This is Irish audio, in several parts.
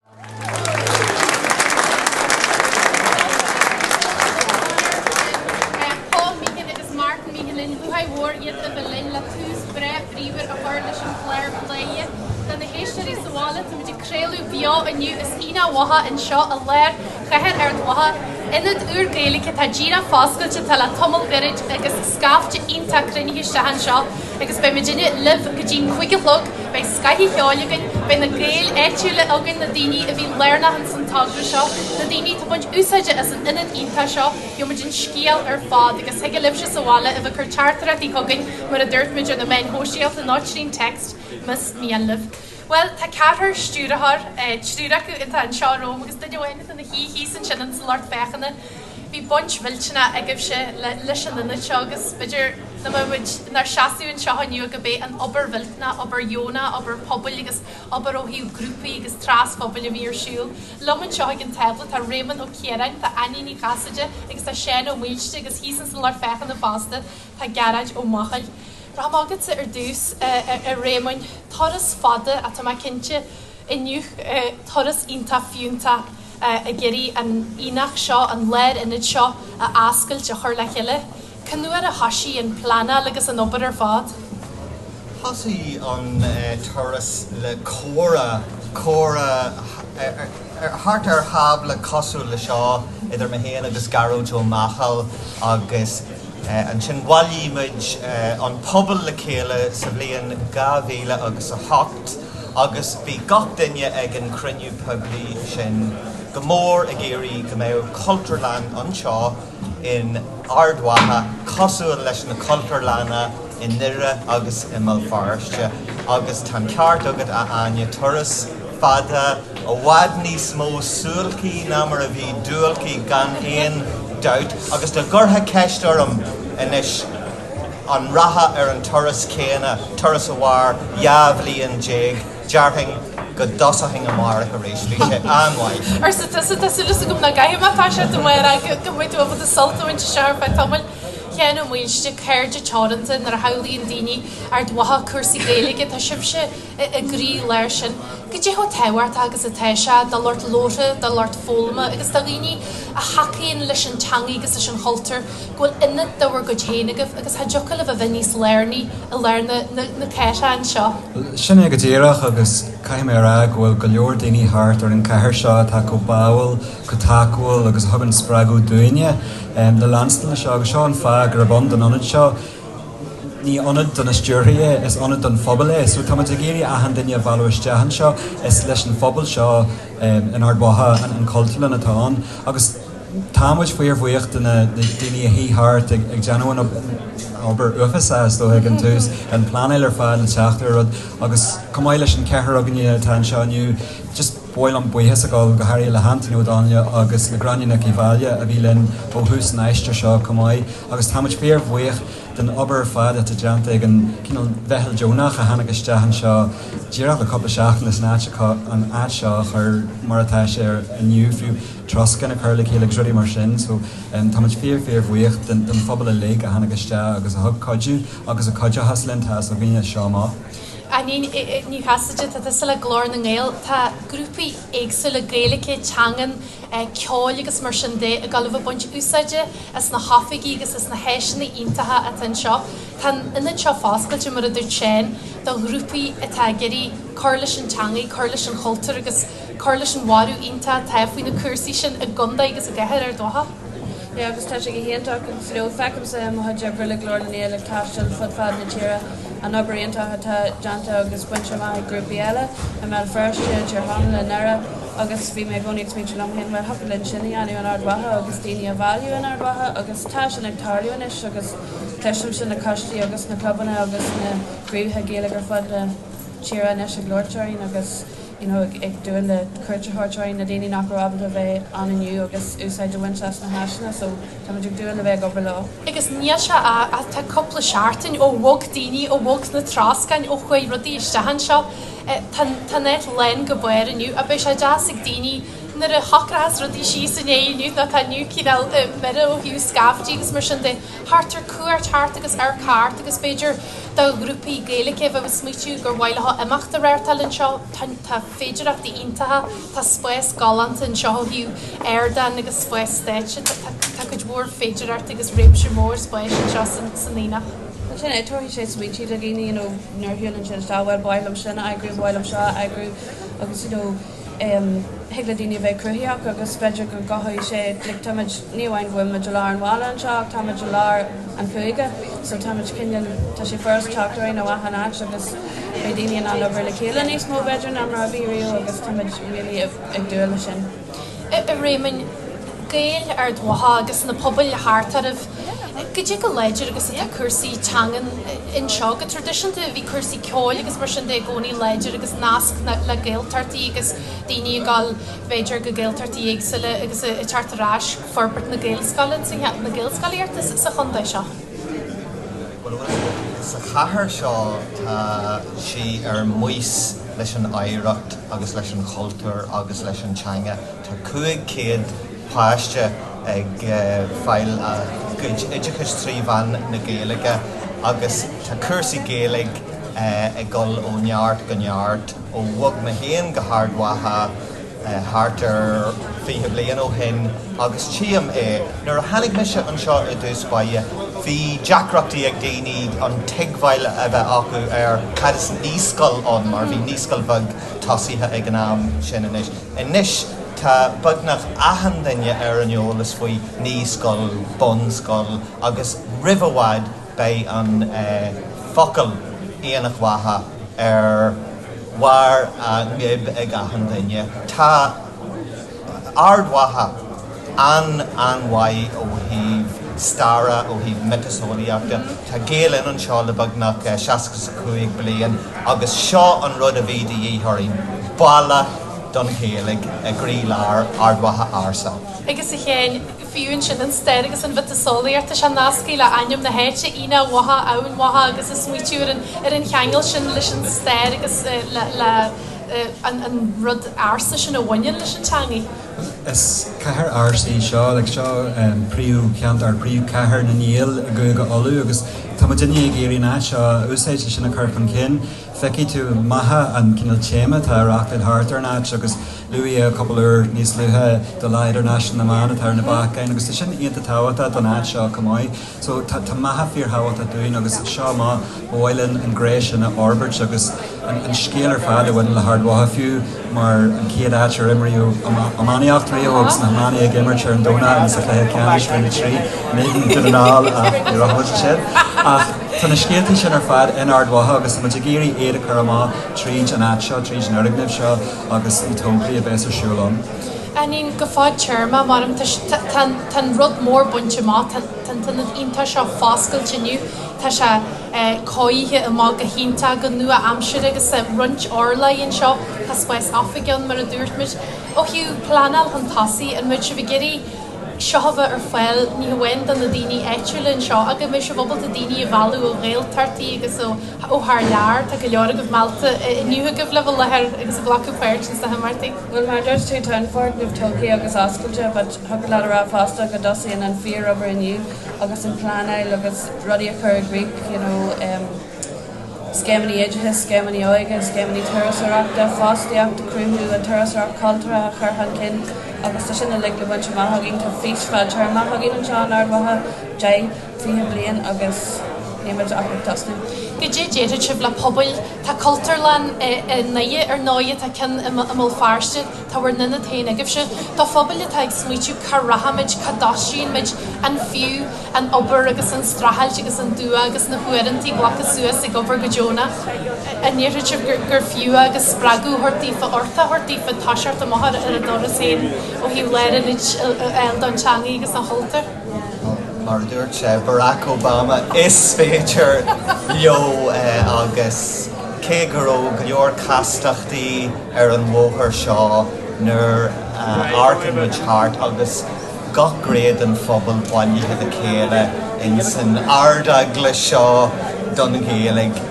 Paul Meehan agus Martin Meehan in Bhuaidh Mhór iad a bheidh linn le tús breá bríomhar a chur leis an gclár plé. Do na héisteoirí sa bhaile, tá muid ag craoladh beo inniu as Aonach Mhacha anseo i lár chathair Ard Mhacha. Ionad úr Gaeilge atá díreach foscailte atá le tamall gairid agus scaifte iontach cruinnithe isteach anseo agus beidh muidinne libh go dtí'n cúig a chlog, beidh scoth an cheoil againn, beidh na Gaeil áitiúla againn, na daoine a bhí lárnach ins an togra seo, na daoine atá baint úsáide as an ionad iontach seo, gheobhaidh muid an scéal ar fad agus thig libhse sa bhaile a bheith cur teachtaireachtaí chugainn mar a dúirt muid ar na meáin shóisialta nó trín text mas mian libh. Bhuel, tá ceathrar stiúrthóir, triúr acu atá anseo romham agus duine amháin atá ina shuí thíos ansin ins an lucht féachana. Bhí baint mhillteanach agaibhse leis an ionad seo agus b'fhéidir nach mbeadh muid inár seasamh anseo inniu ach ab é an obair mhillteanach, obair dheonach, obair pobail agus obair ó thaobh grúpaí agus trasphobail a bhí ar siúl. Liom anseo ag an tábla tá Réamonn Ó Ciaráin, tá Áine Ní Chasaide agus tá Seán Ó Maoilsté agus thíos ins an lucht féachana fosta tá Gearóid Ó Machail. Rachaidh mé chugatsa ar dtús, a Réamoinn. Turas fada, atá mé cinnte, inniu. Turas iontach fiúntach ag iarraidh an aonach seo, an lárionad seo, a fhoscailt, a chur le chéile. Cén uair a thoisigh an pleanáil agus an obair ar fad? Thosaigh an turas le comhrá, comhrá Thart ar thábla cosúil le seo idir mé féin agus Gearóid Ó Machail agus ansin bhailigh muid an pobal le chéile sa bhliain dhá mhíle agus a hocht agus bhí gach duine ag an chruinniú poiblí sin go mór ag iarraidh go mbeadh Cultúrlann anseo in Ard Mhacha, cosúil leis na cultúrlanna i nDoire agus i mBéal Feirste, agus tá an ceart agat, a Áine, turas fada i bhfad níos mó suáilcí ná mar a bhí duáilcí gan aon dabht, agus dá gcuirfeá ceist orm anois, an rachfá ar an turas céanna, turas a mhair dhá bhliain déag? Déarfainn go dtosóchainn amárach arís, bhí sé an-mhaith. arsa tusa. Tá súil agam nach gcaithim ach tá sé dom ar aghaidh go mbeidh tú ábalta sult a bhaint as seo ar feadh tamaill. Sheán Ó Maoilsté, Cairde Teoranta, Nuair a shamhlaíonn daoine Ard Mhacha cúrsaí Gaeilge tá sibhse i gcroí lár sin. Cad é chomh tábhachtach agus atá sé do lucht labhartha, do lucht foghlama agus do dhaoine a thacaíonn leis an teanga agus leis an chultúr. go bhfuil ionad de bhur gcuid féin agaibh agus cha dtiocfadh libh a bheith níos lárnaí i lár na caisleáin seo. Sin é go díreach, agus caithfidh mé a rá go bhfuil go leor daoine thart ar an gcathair seo atá chomh báúil, chomh tacúil agus a thugann spreagadh dúinne le leanstan leis seo, agus seo an fáth gurb ann don ionad seo. Ní ionad do na stiúrthóirí é, is ionad don phobal é, so táimid ag iarraidh achan duine a mhealladh isteach anseo, is leis an phobal seo in Ard Mhacha an Chultúrlann atá ann, agus. Tá muid fíorbhuíoch de na daoine a shuigh thart ag déanamh an obair uafáis seo, is dócha, ag an tús, an pleanáil ar fad, an teacht ar rud, agus chomh maith leis an ceathrar againne atá anseo inniu, just ba mhaith liom buíochas a ghabháil go háirithe le hAntaine Ó Donnaile agus le Gráinne Nic Uí Mháille a bhí linn ó thús an aistir seo chomh maith, agus tá muid fíorbhuíoch den obair ar fad atá déanta ag an, cineál, mheitheal deonach a tháinig isteach anseo díreach le cúpla seachtain leis an áit seo a chur mar atá sé inniu, fiú. troscán a chur le chéile agus rudaí mar sin so táimid fíor fíor bhuíoch den phobal uilig a tháinig isteach agus a thug cuidiú agus a chuideochas linn tá súil againne as seo amach. Áinín Ní Chasaide, Tá tusa le Glór na nGael. Tá grúpaí éagsúla Gaeilge, teangan, ceoil agus mar sin de ag gabháil a bheith ag baint úsáide as na hoifigí agus as na háiseanna iontacha atá anseo. Tá an ionad seo foscailte, mar a dúirt Seán, do ghrúpaí atá ag iarraidh cur leis an teangaidh, cur leis an chultúr agus. cur leis an bhorradh iontach atá faoi na cúrsaí sin i gcontae agus i gcathair Ard Mhacha. Sea, agus tá sé go hiontach go deo. Feicimse i mo chuid oibre le Glór na nGael ag taisteal fud fad na tíre an obair iontach atá déanta agus bainte amach ag grúpaí eile, i mBéal Feirste, i dTír Chonaill, i nDoire agus bhí mé i gcónaí ag smaointiú liom féin, bhuel, thiocfadh linn sin a dhéanamh in Ard Mhacha agus daoine a bhailiú in Ard Mhacha agus tá sin ag tarlú anois agus cloisimse na coistí agus na clubanna agus na craobhacha Gaeilge ar fud na tíre anois ag labhairt orainn agus You know ag dúil le cuairt a thabhairt orainn, na daoine nach raibh ábalta a bheith ann inniu, agus úsáid a bhaint as na háiseanna so táimid ag dúil le bheith ag obair leo. Agus níl sé ach tá cúpla seachtain ó bhog daoine ó bhog na troscáin ó chuaigh rudaí isteach anseo. Tá tá an áit lán go barr inniu, ach beidh sé deas ag daoine nuair a shocróchas rudaí síos i ndiaidh inniu nó tá inniu cineál mire ó thaobh scaiftí agus mar sin de. theacht ar cuairt theacht agus amharc thart agus b'fhéidir do ghrúpaí Gaeilge a bheith ag smaoitiú gur mhaith leo imeacht a reáchtáil anseo, tá féidireachtaí iontacha, tá spás galánta anseo ó thaobh ardán agus spás stáitse, tá cuid mhór féidireachtaí agus réimse mór spáis anseo san Aonach. Mar sin de, tabharfaidh sé smaoitiú do dhaoine, you know, nuair a shiúlann siad isteach, bhuel, ba mhaith liom sin a eagrú, ba mhaith liom seo a eagrú agus, you know, Thig le daoine a bheith cruthaitheach agus b'fhéidir go gcothóidh sé, like, táimid, ní amháin go bhfuilimid i lár an bhaile anseo ach táimid i lár an chúige so táimid cineál, tá sé furast teacht orainn ó achan áit agus beidh daoine in ann obair le chéile níos mó b'fhéidir ná mar a bhí riamh agus táimid really ag dúil leis sin. A Réamainn, Gaeil Ard Mhacha agus na pobail thart oraibh. go dtí go láidir agus atá cúrsaí teangan anseo. Go traidisiúnta bhí cúrsaí ceoil agus mar sin de i gcónaí láidir agus nasc le Gaeltachtaí agus daoine ag dul b'fhéidir go Gaeltachtaí éagsúla agus ag teacht ar ais, forbairt na Gaelscoileanna, na Gaelscolaíochta sa chontae seo. Sa chathair seo tá sí ar maos leis an oidhreacht agus leis an chultúr agus leis an teanga. Tá 500 páiste ag fáil a gcuid oideachais trí mheán na Gaeilge agus tá cúrsaí Gaeilge ag dul ó neart go neart ó bhog mé féin go hArd Mhacha thart ar 20 bliain ó shin agus tchím é. Nuair a tháinig mise anseo i dtús báire bhí deacrachtaí ag daoine an tuigbheáil a bheith acu ar cad is naíscoil ann mar bhí naíscoil bheag tosaithe ag an am sin. Anois. Anois tá beagnach achan duine ar an eolas faoi Naíscoil, Bunscoil agus roimh i bhfad beidh an focal Aonach Mhacha ar bharr a ngoib ag achan duine. Tá Ard Mhacha. an-an-mhaith ó thaobh staire, ó thaobh miotaseolaíochta. Tá Gael Linn anseo le beagnach seasca 's a cúig bliain agus seo an rud a bhí de dhíth orainn, baile don Ghaeilge i gcroí-lár Ard Mhacha ársa. Agus a Sheáin, fiú ansin an stair agus an mhiotaseolaíocht, tá sé nasctha le hainm na háite, Aonach Mhacha, Eamhain Mhacha agus ag smaoitiú ar an ar an cheangal sin leis an stair agus le le an an rud ársa sin a bhaineann leis an teangaidh. Is cathair ársa í seo, like seo príomh cheantar, príomhchathair na nGael i gCúige Uladh agus tá muid inniu ag iarraidh an áit seo a úsáid le sin a cur chun cinn. Feicfidh tú Macha an cineál téama atá ag reachtáil thart ar an áit agus luadh é cúpla uair níos luaithe do Lá Idirnáisiúnta na mBan atá ar na bacáin agus tá sin iontach tábhachtach don áit seo chomh maith. So tá Macha fíorthábhachtach dúinn agus seo amach, ba mhaith linn an ghné sin a fhorbairt agus an scéal ar fad a bhaineann le hArd Mhacha fiú mar an chéad áit ar imríodh iománaíocht riamh agus Ard Mhacha ag imirt ar an Domhnach agus sa chluiche ceannais Roinn 3, in éadan Dhún na nGall ach ní raibh muid ansin. Ach tá na scéaltaí sin ar fad in Ard Mhacha agus tá muid ag iarraidh iad a chur amach tríd an áit seo, tríd an fhoirgneamh seo agus na tograí a bheas ar siúl ann. Ansin go fad-téarma, mar em tá an rud mór bainte amach, tá an t-ionad iontach seo foscailte inniu, tá sé cóirithe amach go hiontach, go nua-aimseartha agus tá roinnt urlár anseo, tá spás oifige ann mar a dúirt muid. Ó thaobh pleanáil chun tosaigh, an mbeidh sibh ag iarraidh seo a bheith ar fáil ní hamháin do na daoine áitiúla anseo ach go mbeidh sibh ábalta daoine a mhealladh ó Ghaeltachtaí agus ó thar lear, tá go leor daofa meallta inniu agaibh le bheith i láthair agus a ghlacadh páirt ins na himeachtaí. Bhuel, mar a dúirt tú, tá an foirgneamh tógtha agus oscailte, but thiocfadh leat a rá fosta go dtosaíonn an fíorobair inniu agus an pleanáil agus rudaí a chur i gcrích, you know, um, scéimeanna oideachais, scéimeanna óige, scéimeanna turasóireachta, fostaíocht a chruthú, an turasóireacht chultúrtha a chur chun cinn agus tá sin uilig le baint amach againn. Tá fís fadtéarmach againn anseo in Ard Mhacha, deich, 20 bliain agus níl muid ach ag tosnú. Goidé déarfaidh sibh le pobail? Tá Cultúrlann i nDoire ar ndóighe, tá ceann i mBéal Feirste, tá bhur n-ionad féin agaibhse. Do phobail atá ag smaoitiú cá rachaimid, cá dtoisíonn muid, an fiú an obair agus an streachailt agus an dua agus na huaireantaí glactha suas ag obair go deonach, an ndéarfaidh sibh gur fiú é agus spreagadh a thabhairt daofa, uchtach a thabhairt daofa toiseacht amach ar a dturas féin ó thaobh lárionaid a fháil don teangaí agus don chultúr? Mar a dúirt sé Barack Obama, is féidir leo! Agus cé go raibh go leor castachtaí ar an bhóthar seo nuair a amharcann muid thart agus gach gné den phobal bailithe le chéile ins an Ard-Eaglais seo don Ghaeilge,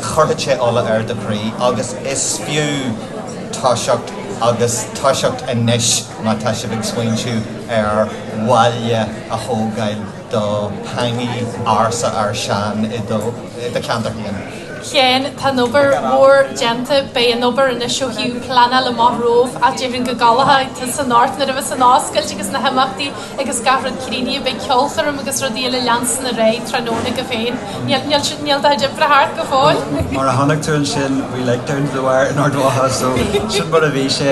chuirfeadh sé ola ar do chroí. Agus is fiú toiseacht, agus toiseacht anois má tá sibh ag smaointiú. ar bhaile a thógáil do theangaí ársa ár sean i do cheantar féin. Chéin. Tá an obair mhór déanta. Beidh an obair anois ó thaobh pleanála amach romhaibh, ach déarfainn go gcodlóidh tusa anocht nuair a bheas an oscailt agus na himeachtaí agus gach rud críochnaithe. Beidh ceolchoirm agus rudaí eile ag leanstan ar aghaidh tráthnóna agaibh féin. Níl do chuid oibre thart go fóill? Mar a chonaic tú ansin, we like down to the wire in Ard Mhacha, so sin mar a bhí sé.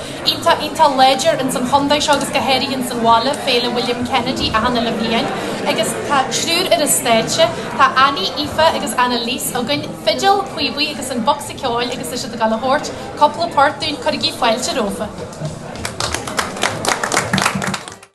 iontach iontach láidir ins an chondae seo agus go háirithe ins an bhaile, Féile William Kennedy achan uile bhliain agus tá triúr ar an stáitse, tá Annie, Aoife agus Annaliese againn, fidil, píobaí agus an bocsa ceoil agus tá siad ag gabháil a thabhairt cúpla port dúinn, cuirigí fáilte rófa.